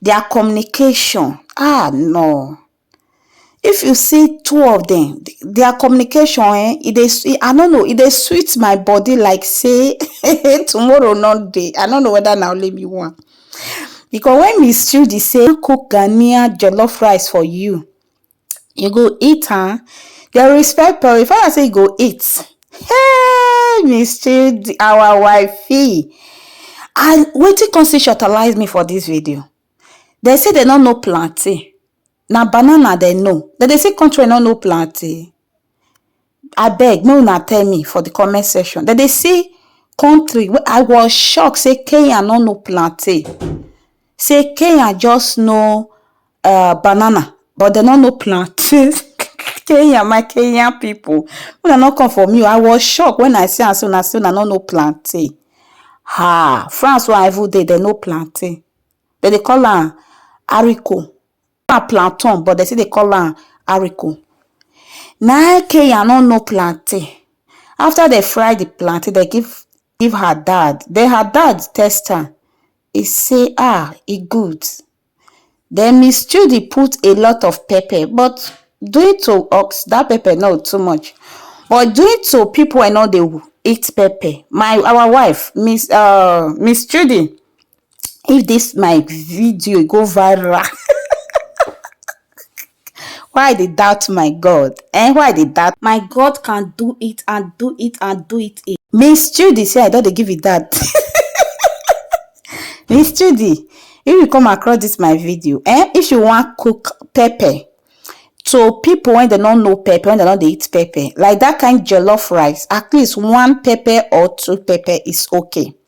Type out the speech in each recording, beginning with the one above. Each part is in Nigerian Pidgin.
their communication ah no if you see two of them their communication eh e dey i no know e dey sweet my body like say tomorrow no dey i no know whether na only me one because when miss Judy say cook Ghanaian jollof rice for you You go eat am? Dem respect Paul. Di father say, You go eat. Hey, mischief our wifey. And wetin come still shortalize me for dis video? Dem say dem no know plantain. Na banana dem know. Dem dey say country no know plantain. Abeg make una tell me for the comment section. Dem dey see country wey I was shocked say Kenya no know plantain. Say Kenya just know uh, banana but dem no know plantain. Kenya, my Kenyan people. Una no come for me o. I was shocked when I see am say una say una no know plantain. Ha! France wey I even dey, dem know plantain. Dem dey call am haricot. na plantain but dem still dey call am ariko. Na im Kenya no know plantain. After dem fry the plantain, dem give give her dad. Den her dad test am, e say ah e good. Dem miss Chudi put a lot of pepper but due to us dat pepper no too much but due to people wey no dey eat pepper, my our wife miss um miss Chudi if this my video go viral why i dey doubt my god eh why i dey doubt my god can do it and do it and do it again miss judy say i don dey give you that miss judy if you come across this my video eh if you wan cook pepper to people when they don't know pepper when they don't eat pepper like that kind jollof rice at least one pepper or two pepper is okay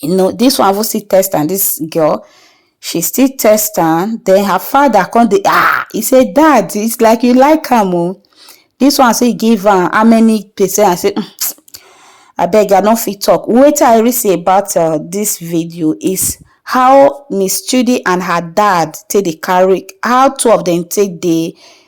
you know this one even still test am this girl she still test am then her father come dey ah he say dad it's like you like am o this one say give am how many percent i say mm, abeg i no fit talk wetin i really see about uh, this video is how miss chudi and her dad take dey carry how two of them take dey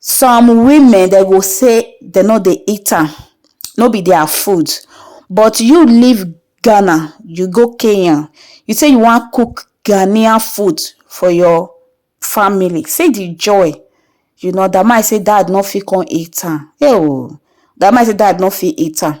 Some women dem go say dem no dey eat am, no be their food but you leave Ghana you go Kenya you say you wan cook Ghanaian food for your family see the joy you know dat man say dad no fit come eat am eeoh dat man say dad no fit eat am.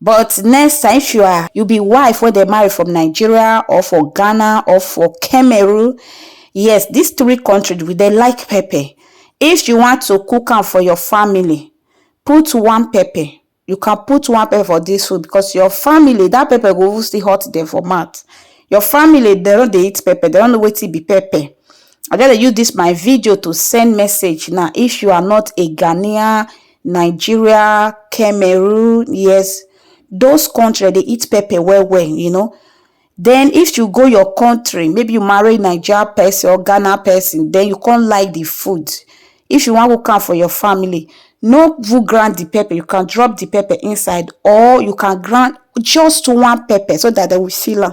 But next time if you are you be wife wey dem marry from Nigeria or for Ghana or for Cameroon, yes these three countries we dey like pepper. If you want to cook am for your family, put one pepper, you can put one pepper for this food because your family that pepper go even still hot them for mouth. Your family dem no dey eat pepper, dem no know wetin be pepper. I just dey use this my video to send message now if you are not a Ghanaian Nigeria, Cameroon, yes, those country dey eat pepper well well, you know. Then if you go your country, maybe you marry Niger person or Ghana person, then you can't like the food. If you want to come for your family, no you grind the pepper, you can drop the pepper inside or you can grind just one pepper so that they will feel am.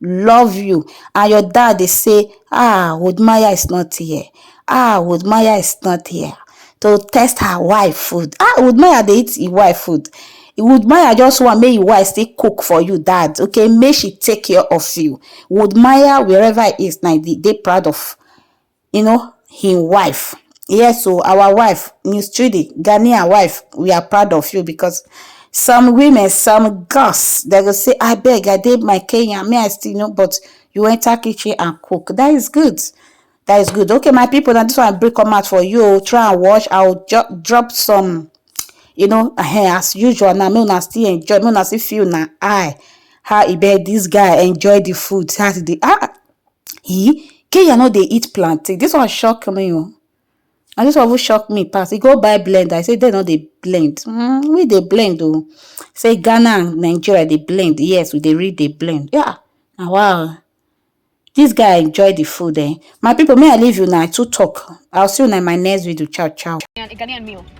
love you and your dad dey say ah would maya is not here ah would maya is not here to test her wife food ah would maya dey eat im wife food would maya just want make im wife still cook for you dad okay make she take care of you would maya wherever he is na dey proud of um him wife yes o our wife miss chidi ghanaian wife we are proud of you because some women some girls they go say abeg i dey my kenya me i still know but you enter kitchen and cook that is good that is good okay my people now this one break come out for you try and watch i'll drop some you know uh, as usual now me una still enjoy me una still feel na eye how e be this guy enjoy the food how e dey ah E Kenya no dey eat plantain. This one shock me o. Oh. Na this one even shock me pass. E go buy blend. I say they no dey blend. Mm, we dey blend o. Oh. Say Ghana and Nigeria dey blend. Yes, we dey really dey blend. Yeah. Now wow. This guy enjoy the food eh. My people, may I leave you now. I too talk. I'll see you in my next video. Ciao, ciao. Ghanaian meal.